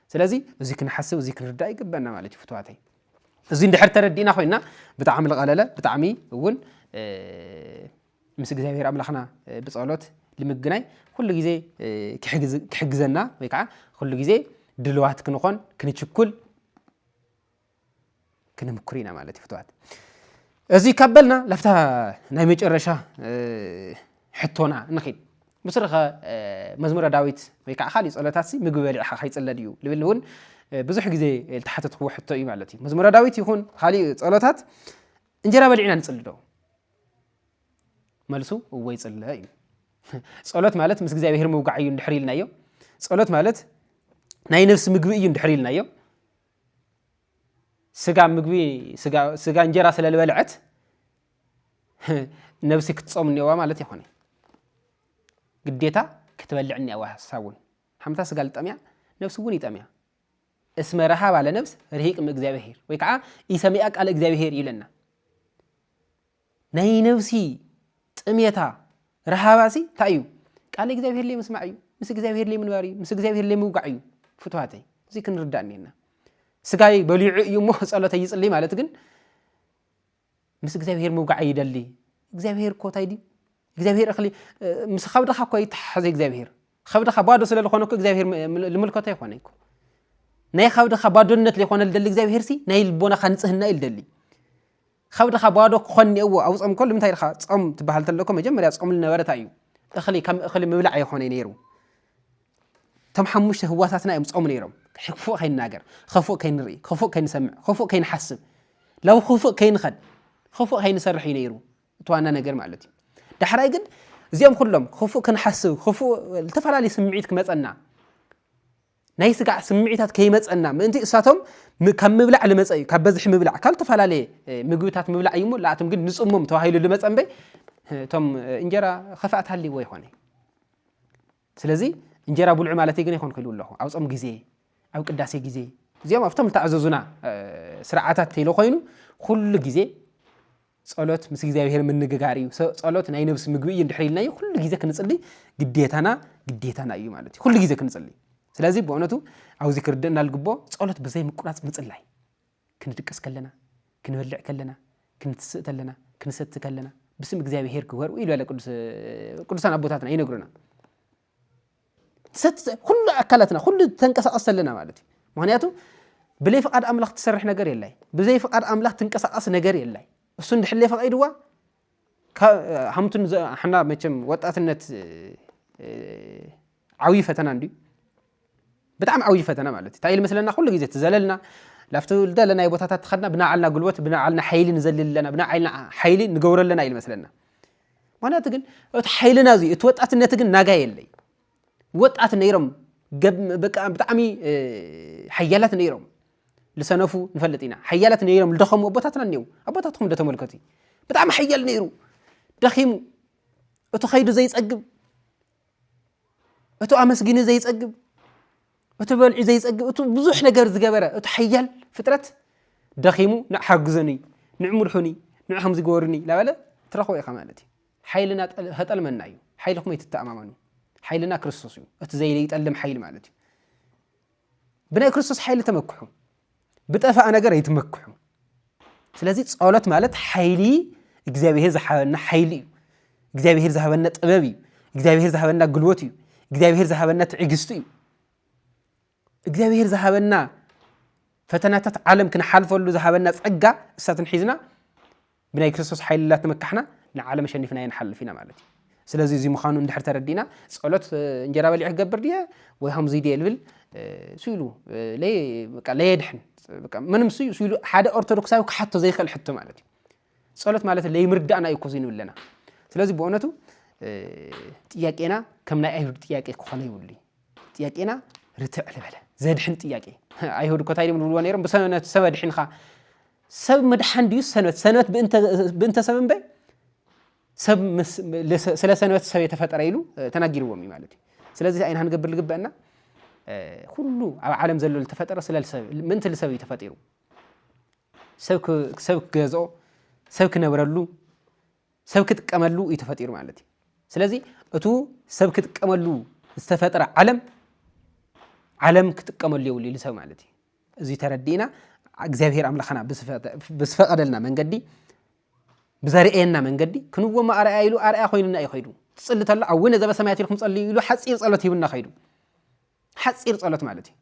ስለዚ እዚ ክንሓስብ እዚ ክንርዳእ ይግበና ማለት እዩ ፍትዋተይ እዚ እንድሕር ተረዲእና ኮይና ብጣዕሚ ልቐለለ ብጣዕሚ እውን ምስ እግዚኣብሔር ኣምላኽና ብፀሎት ልምግናይ ኩሉ ግዜ ክሕግዘና ወይ ከዓ ኩሉ ግዜ ድልዋት ክንኾን ክንችኩል ክንምኩር ኢና ማለት እዩ ፍትዋት እዚ ካብ በልና ላፍታ ናይ መጨረሻ ሕቶና ንኺድ ምስርኸ መዝሙረ ዳዊት ወይ ከዓ ካልእ ጸሎታት ሲ ምግቢ በሊዕኻ ከይጽለ ድዩ ልብል እውን ብዙሕ ግዜ ዝተሓተትክዎ ሕቶ እዩ ማለት እዩ መዝሙረ ዳዊት ይኹን ካልእ ጸሎታት እንጀራ በሊዕና ንጽሊ ዶ መልሱ እወ ይጽለ እዩ ጸሎት ማለት ምስ እግዚኣብሔር ምውጋዕ እዩ እንድሕር ኢልናዮ ጸሎት ማለት ናይ ነፍሲ ምግቢ እዩ እንድሕር ኢልናዮ ስጋ ምግቢ ስጋ እንጀራ ስለ ዝበልዐት ነብሲ ክትጾም እኒኦዋ ማለት ይኾነ ግዴታ ክትበልዕ እኒኦዋ ሓሳብ እውን ሓምታ ስጋ ልጠምያ ነብሲ እውን ይጠምያ እስመ ረሃብ ኣለ ነብስ ርሂቅ እም እግዚኣብሄር ወይ ከዓ ኢሰሚኣ ቃል እግዚኣብሄር ይብለና ናይ ነብሲ ጥሜታ ረሃባሲ እንታይ እዩ? ቃል እግዚኣብሔር ለይ ምስማዕ እዩ። ምስ እግዚኣብሔር ለይ ምንባር እዩ። ምስ እግዚኣብሔር ለይ ምውጋዕ እዩ። ፍትዋተይ እዚ ክንርዳእ እኒና ስጋይ በሊዑ እዩ እሞ ጸሎተ ይጽልይ ማለት ግን ምስ እግዚኣብሔር ምውጋዕ ይደሊ እግዚኣብሔር እኮ እንታይ ድዩ እግዚኣብሔር እኽሊ ምስ ከብድኻ እኮ ይተሓሓዘ እግዚኣብሔር ከብድኻ ባዶ ስለ ዝኾነ እኮ እግዚኣብሔር ልምልከቶ ይኾነ እኮ ናይ ከብድኻ ባዶነት ዘይኮነ ልደሊ እግዚኣብሔር ሲ ናይ ልቦናኻ ንጽህና እዩ ልደሊ ኸብድኻ ባዶ ክኾን እኒኦዎ ኣብ ጾም እኮ ልምንታይ ድኻ ጾም ትበሃል ተሎ እኮ መጀመርያ ጾም ልነበረ ታይ እዩ እኽሊ ከም እኽሊ ምብላዕ ኣይኾነይ ነይሩ እቶም ሓሙሽተ ህዋሳትና እዮም ጾም ነይሮም ክፉእ ከይንናገር ኸፉእ ከይንርኢ ኸፉእ ከይንሰምዕ ኸፉእ ከይንሓስብ ላብ ኸፉእ ከይንኸድ ኸፉእ ከይንሰርሕ እዩ ነይሩ እቲ ዋና ነገር ማለት እዩ ዳሕራይ ግን እዚኦም ኩሎም ኸፉእ ክንሓስብ ኸፉእ ዝተፈላለዩ ስምዒት ክመፀና ናይ ስጋዕ ስምዒታት ከይመፀና ምእንቲ እሳቶም ካብ ምብላዕ ልመፀ እዩ ካብ በዝሒ ምብላዕ ካብ ዝተፈላለየ ምግብታት ምብላዕ እዩ እሞ ለኣቶም ግን ንፅሞም ተባሂሉ ልመፀ እምበይ እቶም እንጀራ ከፋእት ሃልይዎ ይኮነ ስለዚ እንጀራ ብልዑ ማለት ግን ይኮን ክኢሉ ኣለኹ ኣብ ፆም ግዜ ኣብ ቅዳሴ ግዜ እዚኦም ኣብቶም ዝተኣዘዙና ስርዓታት ተይሎ ኮይኑ ኩሉ ግዜ ጸሎት ምስ እግዚኣብሔር ምንግጋር እዩ። ጸሎት ናይ ነብሲ ምግቢ እዩ እንድሕር ኢልናዮ ኩሉ ግዜ ክንጽልይ ግዴታና ግዴታና እዩ ማለት እዩ። ኩሉ ግዜ ክንጽልይ። ስለዚ ብእውነቱ ኣብዚ ክርድእና ልግቦ ጸሎት ብዘይ ምቁራጽ ምጽላይ ክንድቅስ ከለና፣ ክንበልዕ ከለና፣ ክንትስእ ከለና፣ ክንሰቲ ከለና ብስም እግዚኣብሔር ግበሩ ኢሉ ያለ ቅዱሳን ኣቦታትና ይነግሩና። ኩሉ ኣካላትና ኩሉ ተንቀሳቐስ ተለና ማለት እዩ ምክንያቱ ብለይ ፍቓድ ኣምላኽ ትሰርሕ ነገር የላይ ብዘይ ፍቓድ ኣምላኽ ትንቀሳቐስ ነገር የላይ እሱ እንድሕለይ ፈቒድዋ ሃምቱን ሓና መቸም ወጣትነት ዓብዪ ፈተና እንድዩ ብጣዕሚ ዓብዪ ፈተና ማለት እዩ እንታይ ኢል መስለና ኩሉ ግዜ ትዘለልና ላብቲ ዝደለናዮ ቦታታት ትኸድና ብናዓልና ጉልበት ብናዓልና ሓይሊ ንዘልል ኣለና ብናዓልና ሓይሊ ንገብሮ ኣለና ኢል መስለና ምክንያቱ ግን እቲ ሓይልና እዚ እቲ ወጣትነት ግን ናጋ የለይ ወጣት ነይሮም ብጣዕሚ ሓያላት ነይሮም ዝሰነፉ ንፈልጥ ኢና ሓያላት ነይሮም ዝደኸሙ ኣቦታትና እኒው ኣቦታትኩም ደተመልከቱ ብጣዕሚ ሓያል ነይሩ ደኺሙ እቲ ከይዱ ዘይፀግብ እቱ ኣመስጊኒ ዘይፀግብ እቱ በልዑ ዘይፀግብ እቱ ብዙሕ ነገር ዝገበረ እቱ ሓያል ፍጥረት ደኺሙ ንዕ ሓግዘኒ ንዕ ምርሑኒ ንዕ ከምዚ ገበሩኒ ላበለ ትረኽቦ ኢኻ ማለት እዩ ሓይልና ተጠልመና እዩ ሓይሊ ኩመይ ትተኣማመኑ ሓይልና ክርስቶስ እዩ እቲ ዘይጠልም ሓይሊ ማለት እዩ ብናይ ክርስቶስ ሓይሊ ተመክሑ ብጠፋኣ ነገር ኣይትመክሑ። ስለዚ ጸሎት ማለት ሓይሊ እግዚኣብሄር ዝሓበና ሓይሊ እዩ። እግዚኣብሄር ዝሃበና ጥበብ እዩ። እግዚኣብሄር ዝሃበና ግልቦት እዩ። እግዚኣብሄር ዝሃበና ትዕግስቲ እዩ። እግዚኣብሄር ዝሃበና ፈተናታት ዓለም ክንሓልፈሉ ዝሃበና ጸጋ እሳትን ሒዝና ብናይ ክርስቶስ ሓይሊ ላተመካሕና ንዓለም ኣሸኒፍናዮ ንሓልፍ ኢና ማለት እዩ ስለዚ እዚ ምዃኑ እንድሕር ተረዲእና ጸሎት እንጀራ በሊዕ ክገብር ድየ ወይ ከምዚ ድየ ልብል ስኢሉ ለየድሕን ምንም ስኢሉ ሓደ ኦርቶዶክሳዊ ክሓቶ ዘይክእል ሕቶ ማለት እዩ ጸሎት ማለት ለይምርዳእና እዩ ኮዚ ንብለና ስለዚ ብእውነቱ ጥያቄና ከም ናይ ኣይሁድ ጥያቄ ክኾነ ይብሉ ጥያቄና ርትዕ ልበለ ዘድሕን ጥያቄ ኣይሁድ እኮ እንታይ ድም ዝብልዎ ነይሮም ብሰብ ኣድሒንካ ሰብ ምድሓን ድዩ ሰንበት ሰንበት ብእንተ ሰብ እምበ ሰብ ስለ ሰንበት ሰብ የተፈጠረ ኢሉ ተናጊርዎም እዩ ማለት እዩ ስለዚህ ኣይና ክንገብር ዝግበአና ኩሉ ኣብ ዓለም ዘሎ ዝተፈጠረ ስለ ሰብ ምእንቲ ልሰብ እዩ ተፈጢሩ ሰብ ክገዝኦ ሰብ ክነብረሉ ሰብ ክጥቀመሉ እዩ ተፈጢሩ ማለት እዩ ስለዚ እቱ ሰብ ክጥቀመሉ ዝተፈጥረ ዓለም ዓለም ክጥቀመሉ የብሉ ኢሉ ሰብ ማለት እዩ እዚ ተረዲእና እግዚኣብሔር ኣምላኽና ብዝፈቐደልና መንገዲ ብዘርእየና መንገዲ ክንወሞ ኣርኣያ ኢሉ ኣርኣያ ኮይኑና እዩ ከይዱ ትፅሊ ተሎ ኣውነ ዘበሰማያት ኢልኩም ፀልዩ ኢሉ ሓፂር ፀሎት ሂቡና ከይዱ ሓፂር ፀሎት ማለት እዩ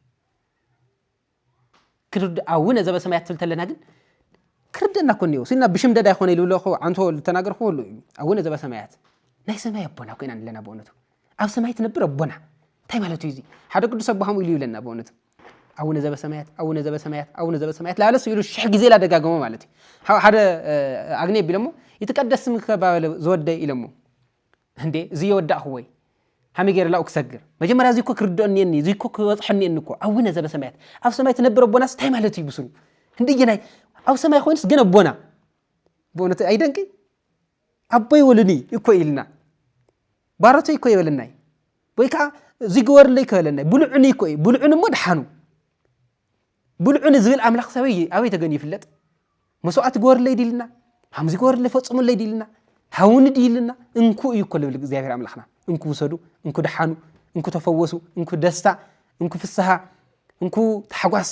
ክርድ ኣውነ ዘበሰማያት ትብል ተለና ግን ክርደና ኮ እኒኦ ስና ብሽምደዳ ይኮነ ኢሉ ብለኹ ዓንቶ ዝተናገርኩ ሁሉ እዩ ኣውነ ዘበሰማያት ናይ ሰማይ ኣቦና ኮይና ኣለና ብእውነቱ ኣብ ሰማይ ትነብር ኣቦና እንታይ ማለት እዩ እዚ ሓደ ቅዱስ ኣቦ ከምኡ ኢሉ ይብለና ብእውነቱ ኣቡነ ዘበሰማያት ኣቡነ ዘበሰማያት ኣቡነ ዘበሰማያት ላለ ስኢሉ ሽሕ ግዜ ላደጋገሞ ማለት እዩ ሓደ ኣግኒ ቢሎሞ ይትቀደስ ስምከ ባበለ ዝወደይ ኢሎሞ እንዴ እዚ የወዳእኹ ወይ ሃመይ ገይረ ላኡ ክሰግር መጀመርያ እዚ እኮ ክርድኦ እኒአኒ እዚ እኮ ክበፅሖ እኒአኒ እኮ ኣቡነ ዘበሰማያት ኣብ ሰማይ ትነብር ኣቦናስ እንታይ ማለት እዩ ብስሩ እንድየናይ ኣብ ሰማይ ኮይኑስ ግን ኣቦና ብእውነት ኣይደንቂ ኣቦይ ወሉኒ እኮ ኢልና ባሮተይ እኮ ይበለናይ ወይ ከዓ እዙይ ግበርለይ እኮ ይበለናይ ብልዑኒ እኮ እዩ ብልዑኒ እሞ ድሓኑ ብልዑኒ ዝብል ኣምላኽ ሰበይ ኣበይ ተገን ይፍለጥ መስዋዕቲ ግበርለይ ድልና ሃምዚ ግበርለይ ፈፅሙለይ ድልና ሃውኒ ድልና እንኩ እዩ እኮ ልብል እግዚኣብሔር ኣምላኽና እንኩ ውሰዱ እንኩ ድሓኑ እንኩ ተፈወሱ እንኩ ደስታ እንኩ ፍስሃ እንኩ ታሕጓስ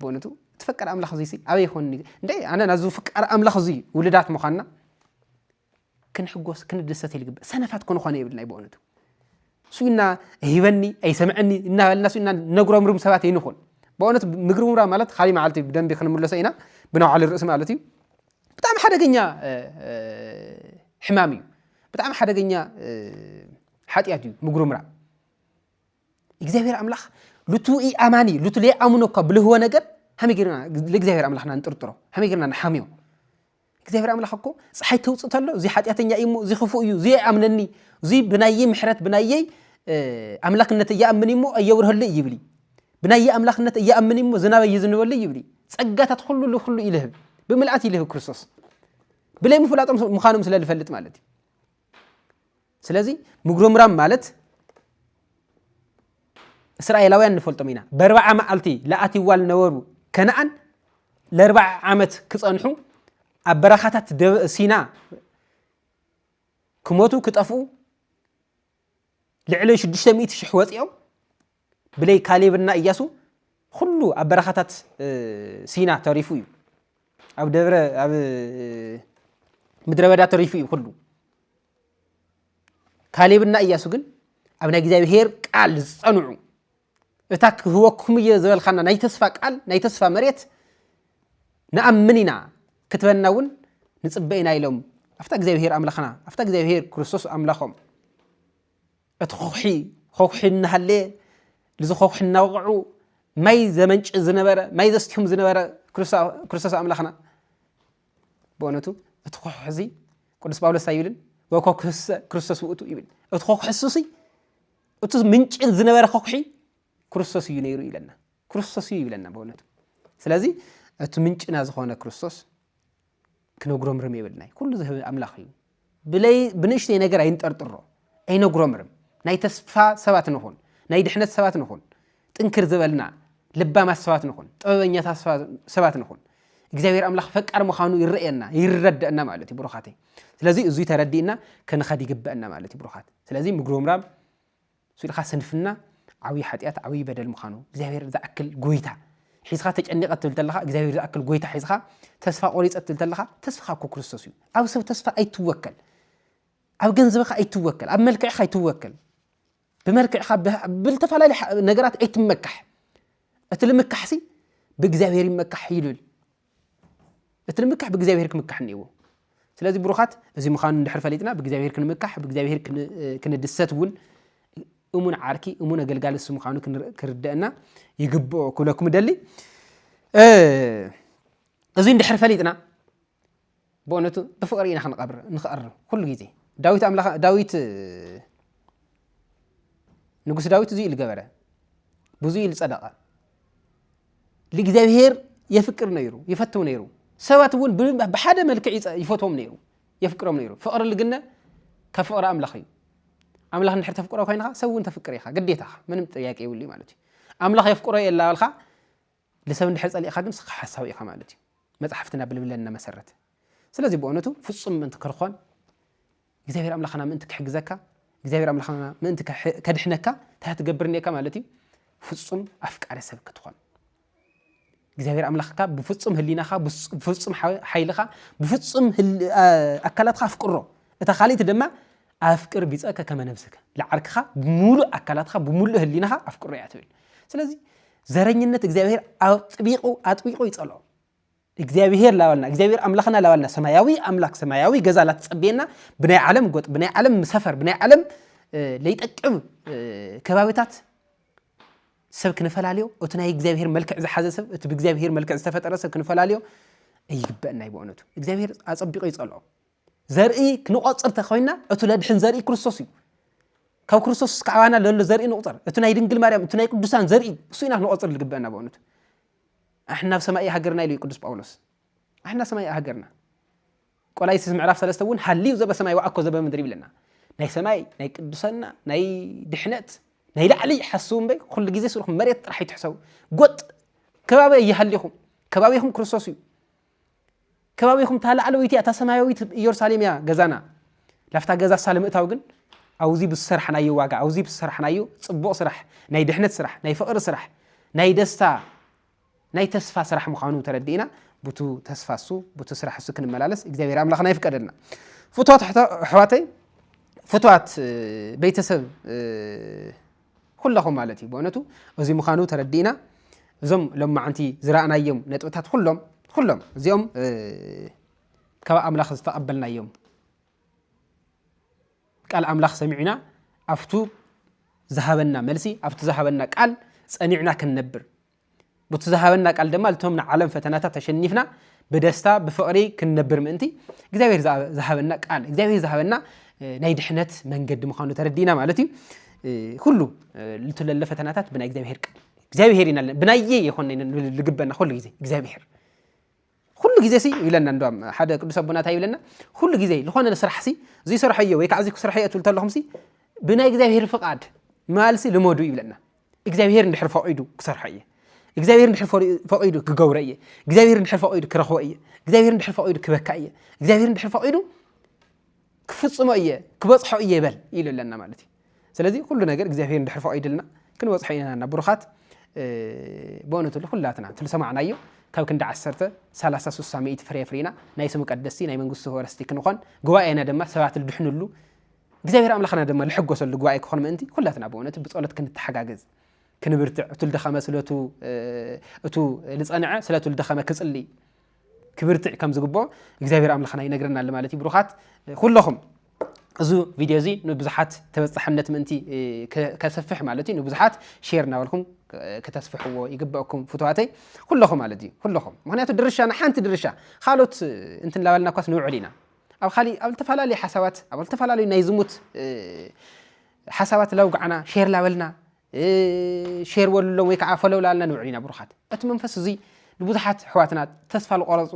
በእውነቱ እቲ ፈቃር ኣምላኽ እዙይሲ ኣበይ ይኾን እንታይ ኣነ ናዚ ፍቃር ኣምላኽ እዙይ ውልዳት ምዃንና ክንሕጎስ ክንድሰት ይልግበእ ሰነፋት ክንኾነ የብልናይ በእውነቱ ሱና ሂበኒ ኣይሰምዐኒ እናበልና ሱና ነጉረምርም ሰባት ኣይንኹን ብእውነት ምግርምራ ማለት ካሊ መዓልቲ ብደንቢ ክንምለሶ ኢና ብናውዓሊ ርእሲ ማለት እዩ ብጣዕሚ ሓደገኛ ሕማም እዩ ብጣዕሚ ሓደገኛ ሓጢኣት እዩ ምግርምራ እግዚኣብሔር ኣምላኽ ሉቱ ኢኣማኒ ሉቱ ለይኣምኖ እኳ ብልህወ ነገር ሃመይ ጌርና ለእግዚኣብሔር ኣምላኽና ንጥርጥሮ ሃመይ ጌርና ንሓምዮ እግዚኣብሔር ኣምላኽ እኮ ፀሓይ ተውፅ ተሎ እዚ ሓጢኣተኛ እዩ እሞ እዚ ክፉእ እዩ እዚ ኣይኣምነኒ እዚ ብናየይ ምሕረት ብናየይ ኣምላክነት እያኣምን እሞ ኣየብርሀሉ ይብል ብናየይ ኣምላክነት እያኣምን እሞ ዝናበ ይዝንበሉ ይብል ፀጋታት ኩሉ ልኩሉ ይልህብ ብምልኣት ይልህብ ክርስቶስ ብለይ ምፍላጦም ምዃኖም ስለ ዝፈልጥ ማለት እዩ ስለዚ ምጉርምራም ማለት እስራኤላውያን ንፈልጦም ኢና በርባዓ መዓልቲ ለኣትዋ ዝነበሩ ከነኣን ለርባዓ ዓመት ክፀንሑ ኣብ በረኻታት ሲና ክሞቱ ክጠፍኡ ልዕሊ ሽዱሽተ ሚእቲ ሽሕ ወፂኦም ብለይ ካሌብና እያሱ ኹሉ ኣብ በረኻታት ሲና ተሪፉ እዩ ኣብ ደብረ ኣብ ምድረ በዳ ተሪፉ እዩ ኩሉ ካሌብና እያሱ ግን ኣብ ናይ እግዚኣብሄር ቃል ዝፀንዑ እታ ክህበኩም እየ ዝበልካና ናይ ተስፋ ቃል ናይ ተስፋ መሬት ንኣምን ኢና ክትበና እውን ንፅበ ኢና ኢሎም ኣብታ እግዚኣብሄር ኣምላኽና ኣብታ እግዚኣብሄር ክርስቶስ ኣምላኾም እቲ ኾዂሒ ኾዂሒ እናሃለየ ልዚ ኾዂሒ እናወቕዑ ማይ ዘመንጭ ዝነበረ ማይ ዘስትዮም ዝነበረ ክርስቶስ ኣምላኽና ብእውነቱ እቲ ኾዂሒ እዚ ቅዱስ ጳውሎስ እንታይ ይብልን ወኮክሰ ክርስቶስ ውእቱ ይብል እቲ ኾዂሒ እሱሲ እቲ ምንጭ ዝነበረ ኾዂሒ ክርስቶስ እዩ ነይሩ ይብለና ክርስቶስ እዩ ይብለና ብእውነቱ ስለዚ እቲ ምንጭና ዝኾነ ክርስቶስ ክነጉረምርም የብልናይ ኩሉ ዝህብ ኣምላኽ እዩ ብለይ ብንእሽተይ ነገር ኣይንጠርጥሮ ኣይነጉረምርም ናይ ተስፋ ሰባት ንኹን ናይ ድሕነት ሰባት ንኹን ጥንክር ዝበልና ልባማት ሰባት ንኹን ጥበበኛታት ሰባት ንኹን እግዚኣብሔር ኣምላኽ ፈቃር ምዃኑ ይረእየና ይረደአና ማለት እዩ ብሩኻተይ ስለዚ እዙይ ተረዲእና ክንኸድ ይግበአና ማለት እዩ ብሩኻት ስለዚ ምጉርምራም ንሱ ድኻ ስንፍና ዓብይ ሓጢኣት ዓብይ በደል ምዃኑ እግዚኣብሔር ዝኣክል ጎይታ ሒዝኻ ተጨኒቐ ትብል ተለኻ እግዚኣብሔር ዝኣክል ጎይታ ሒዝኻ ተስፋ ቆሪፀ ትብል ተለኻ ተስፋኻ እኮ ክርስቶስ እዩ ኣብ ሰብ ተስፋ ኣይትወከል ኣብ ገንዘብኻ ኣይትወከል ኣብ መልክዕኻ ኣይትወከል ብመልክዕኻ ብዝተፈላለዩ ነገራት ኣይትመካሕ እቲ ልምካሕሲ ብእግዚኣብሔር ይመካሕ ይብል እቲ ንምካሕ ብእግዚኣብሄር ክምካሕ እኒእዎ ስለዚ ብሩኻት እዚ ምዃኑ እንድሕር ፈሊጥና ብእግዚኣብሄር ክንምካሕ ብእግዚኣብሄር ክንድሰት እውን እሙን ዓርኪ እሙን ኣገልጋሊ እሱ ምዃኑ ክርደአና ይግብኦ ክብለኩም እደሊ እዚ እንድሕር ፈሊጥና ብእውነቱ ብፍቅሪ ኢና ክንቀብር ንክኣርም ኩሉ ግዜ ዳዊት ኣምላኽ ዳዊት ንጉስ ዳዊት እዙይ ኢሉ ገበረ ብዙይ ኢሉ ጸደቐ ንእግዚኣብሄር የፍቅር ነይሩ ይፈትው ነይሩ ሰባት እውን ብሓደ መልክዕ ይፈትዎም ነይሩ የፍቅሮም ነይሩ ፍቕሪ ልግነ ካብ ፍቕሪ ኣምላኽ እዩ ኣምላኽ ንድሕር ተፍቅሮ ኮይንካ ሰብ እውን ተፍቅር ኢኻ ግዴታ ምንም ጥያቄ ይብሉ ማለት እዩ ኣምላኽ የፍቅሮ የላበልካ ልሰብ እንድሕር ጸሊእኻ ግን ስኻ ሓሳዊ ኢኻ ማለት እዩ መጽሓፍትና ብልብለና መሰረት ስለዚ ብኦነቱ ፍጹም ምእንቲ ክርኾን እግዚኣብሔር ኣምላኽና ምእንቲ ክሕግዘካ እግዚኣብሔር ኣምላኽና ምእንቲ ከድሕነካ እንታይ ትገብር እኒካ ማለት እዩ ፍጹም ኣፍቃሪ ሰብ ክትኾን እግዚኣብሔር ኣምላኽካ ብፍጹም ህሊናኻ ብፍጹም ሓይልኻ ብፍጹም ኣካላትካ ኣፍቅሮ እታ ካልእቲ ድማ ኣፍቅር ቢጸከ ከመ ነብስከ፣ ልዓርክኻ ብምሉእ ኣካላትካ ብምሉእ ህሊናኻ ኣፍቅሮ እያ ትብል። ስለዚ ዘረኝነት እግዚኣብሄር ኣጥቢቑ ኣጥቢቑ ይጸልኦ። እግዚኣብሄር ላባልና እግዚኣብሄር ኣምላኽና ላባልና ሰማያዊ ኣምላክ ሰማያዊ ገዛ ላትጸብየና ብናይ ዓለም ጎጥ ብናይ ዓለም ሰፈር ብናይ ዓለም ለይጠቅም ከባቢታት ሰብ ክንፈላለዮ እቲ ናይ እግዚኣብሄር መልክዕ ዝሓዘ ሰብ እቲ ብእግዚኣብሄር መልክዕ ዝተፈጠረ ሰብ ክንፈላለዮ ኣይግበአና እዩ ብእውነቱ እግዚኣብሄር ኣጸቢቑ ይጸልኦ ዘርኢ ክንቆጽር ተኮይና እቱ ለድሕን ዘርኢ ክርስቶስ እዩ ካብ ክርስቶስ እስካዕባና ለሎ ዘርኢ ንቁፀር እቲ ናይ ድንግል ማርያም እቲ ናይ ቅዱሳን ዘርኢ እሱ ኢና ክንቆፅር ዝግበአና በእውነቱ ኣሕና ኣብ ሰማይ ሃገርና ኢሉ ቅዱስ ጳውሎስ ኣሕና ሰማይ ሃገርና ቆላይሲስ ምዕራፍ ሰለስተ እውን ሃልዩ ዘበ ሰማይ ወኣኮ ዘበ ምድሪ ይብለና ናይ ሰማይ ናይ ቅዱሰና ናይ ድሕነት ናይ ላዕሊ ሓስቡ እምበይ ኩሉ ግዜ ስልኹም መሬት ጥራሕ ይትሕሰቡ ጎጥ ከባቢ ይሃሊኹም ከባቢኹም ክርስቶስ እዩ ከባቢኹም እታ ላዕለወይቲ እያ፣ እታ ሰማያዊት ኢየሩሳሌም እያ ገዛና። ላፍታ ገዛ እሳ ንምእታው ግን ኣውዚ ብዝሰርሓናዮ ዋጋ፣ ኣውዚ ብዝሰርሓናዮ ጽቡቕ ስራሕ፣ ናይ ድሕነት ስራሕ፣ ናይ ፍቕሪ ስራሕ፣ ናይ ደስታ፣ ናይ ተስፋ ስራሕ ምዃኑ ተረዲእና ቡቱ ተስፋ እሱ፣ ቡቱ ስራሕ እሱ ክንመላለስ እግዚኣብሔር ኣምላኽና ይፍቀደልና። ፍትዋት ኣሕዋተይ፣ ፍትዋት ቤተሰብ ኩለኹም ማለት እዩ ብእውነቱ እዚ ምዃኑ ተረዲእና እዞም ሎማዓንቲ ዝረኣናዮም ነጥብታት ኩሎም ኩሎም እዚኦም ካብ ኣምላኽ ዝተቐበልናዮም ቃል ኣምላኽ ሰሚዕና ኣብቱ ዝሃበና መልሲ ኣብቱ ዝሃበና ቃል ጸኒዕና ክንነብር ቡቲ ዝሃበና ቃል ድማ ልቶም ንዓለም ፈተናታት ተሸኒፍና ብደስታ ብፍቕሪ ክንነብር ምእንቲ እግዚኣብሔር ዝሃበና ቃል እግዚኣብሔር ዝሃበና ናይ ድሕነት መንገዲ ምዃኑ ተረዲእና ማለት እዩ ኩሉ ልትለለ ፈተናታት ብናይ እግዚኣብሔር ቃል እግዚኣብሔር ኢና ብናየ የኾነ ልግበና ኩሉ ግዜ እግዚኣብሔር ኹሉ ግዜ ሲ ይብለና እንዶም ሓደ ቅዱስ ኣቦና እንታይ ይብለና ኹሉ ግዜ ዝኾነ ስራሕ ሲ ዝይሰርሐዮ ወይ ከዓ እዚ ክስርሐ እየ ትብል ተለኹም ሲ ብናይ እግዚኣብሔር ፍቃድ ማልሲ ልመዱ ይብለና እግዚኣብሔር እንድሕር ፈቂዱ ክሰርሖ እየ እግዚኣብሔር እንድሕር ፈቂዱ ክገብሮ እየ እግዚኣብሔር እንድሕር ፈቂዱ ክረኽቦ እየ እግዚኣብሔር እንድሕር ፈቂዱ ክበካ እየ እግዚኣብሔር እንድሕር ፈቂዱ ክፍጽሞ እየ ክበጽሖ እየ በል ኢሉ ኣለና ማለት እዩ ስለዚ ኩሉ ነገር እግዚኣብሄር እንድሕር ፈቒድልና ክንበጽሖ ኢና እና ብሩኻት በእውነቱ ኩላትና እቲ ዝሰማዕናዮ ካብ ክንዲ ዓሰርተ ሰላሳ ስሳ ሚእቲ ፍሬ ፍሪና ናይ ስሙ ቀደስቲ ናይ መንግስቱ ወረስቲ ክንኾን ጉባኤና ድማ ሰባት ልድሕንሉ እግዚኣብሔር ኣምላኽና ድማ ልሕጎሰሉ ጉባኤ ክኾን ምእንቲ ኩላትና ብእውነት ብጸሎት ክንተሓጋገዝ ክንብርትዕ እቱ ልደኸመ ስለቱ እቱ ልጸንዐ ስለቱ ልደኸመ ክጽሊ ክብርትዕ ከም ዝግብኦ እግዚኣብሔር ኣምላኽና ይነግረና ኣሎ ማለት እዩ ብሩኻት ኩለኹም እዚ ቪድዮ እዚ ንብዙሓት ተበፃሕነት ምእንቲ ከሰፍሕ ማለት እዩ ንብዙሓት ሼር እናበልኩም ከተስፍሕዎ ይግበአኩም ፍትዋተይ ኩለኹም ማለት እዩ ኩለኹም ምክንያቱ ድርሻ ንሓንቲ ድርሻ ካልኦት እንትንላበልና እኳስ ንውዕል ኢና ኣብ ካሊእ ኣብ ዝተፈላለዩ ሓሳባት ኣብ ዝተፈላለዩ ናይ ዝሙት ሓሳባት ላውጋዕና ሼር ላበልና ሼር በሉሎም ወይ ከዓ ፈለው ላልና ንውዕል ኢና ብሩኻት እቲ መንፈስ እዙይ ንብዙሓት ኣሕዋትና ተስፋ ዝቆረፁ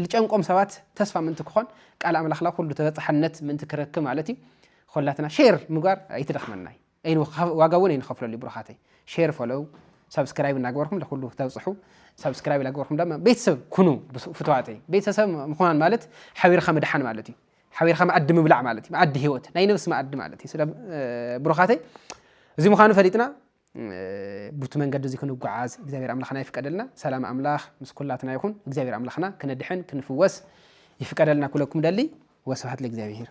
ዝጨንቆም ሰባት ተስፋ ምእንቲ ክኾን ቃል ኣምላኽላ ኩሉ ተበፃሕነት ምእንቲ ክረክብ ማለት እዩ ኮላትና ሼር ምግባር ኣይትደኽመና እዩ ዋጋ እውን ኣይንኸፍለሉ እዩ ብሩኻተይ ሼር ፈለው ሳብስክራይብ እናገበርኩም ለኩሉ ተብፅሑ ሳብስክራይብ እናገበርኩም ድማ ቤተሰብ ኩኑ ፍትዋተይ ቤተሰብ ምዃን ማለት ሓቢርካ ምድሓን ማለት እዩ ሓቢርካ መኣዲ ምብላዕ ማለት እዩ መኣዲ ህይወት ናይ ነብሲ መኣዲ ማለት እዩ ስለ ብሩኻተይ እዚ ምዃኑ ፈሊጥና ቡቲ መንገዲ እዚ ክንጓዓዝ እግዚኣብሔር ኣምላኽና ይፍቀደልና ሰላም ኣምላኽ ምስ ኩላትና ይኹን እግዚኣብሔር ኣምላኽና ክነድሕን ክንፍወስ ይፍቀደልና ኩለኩም ደሊ ወስብሓት ለእግዚኣብሔር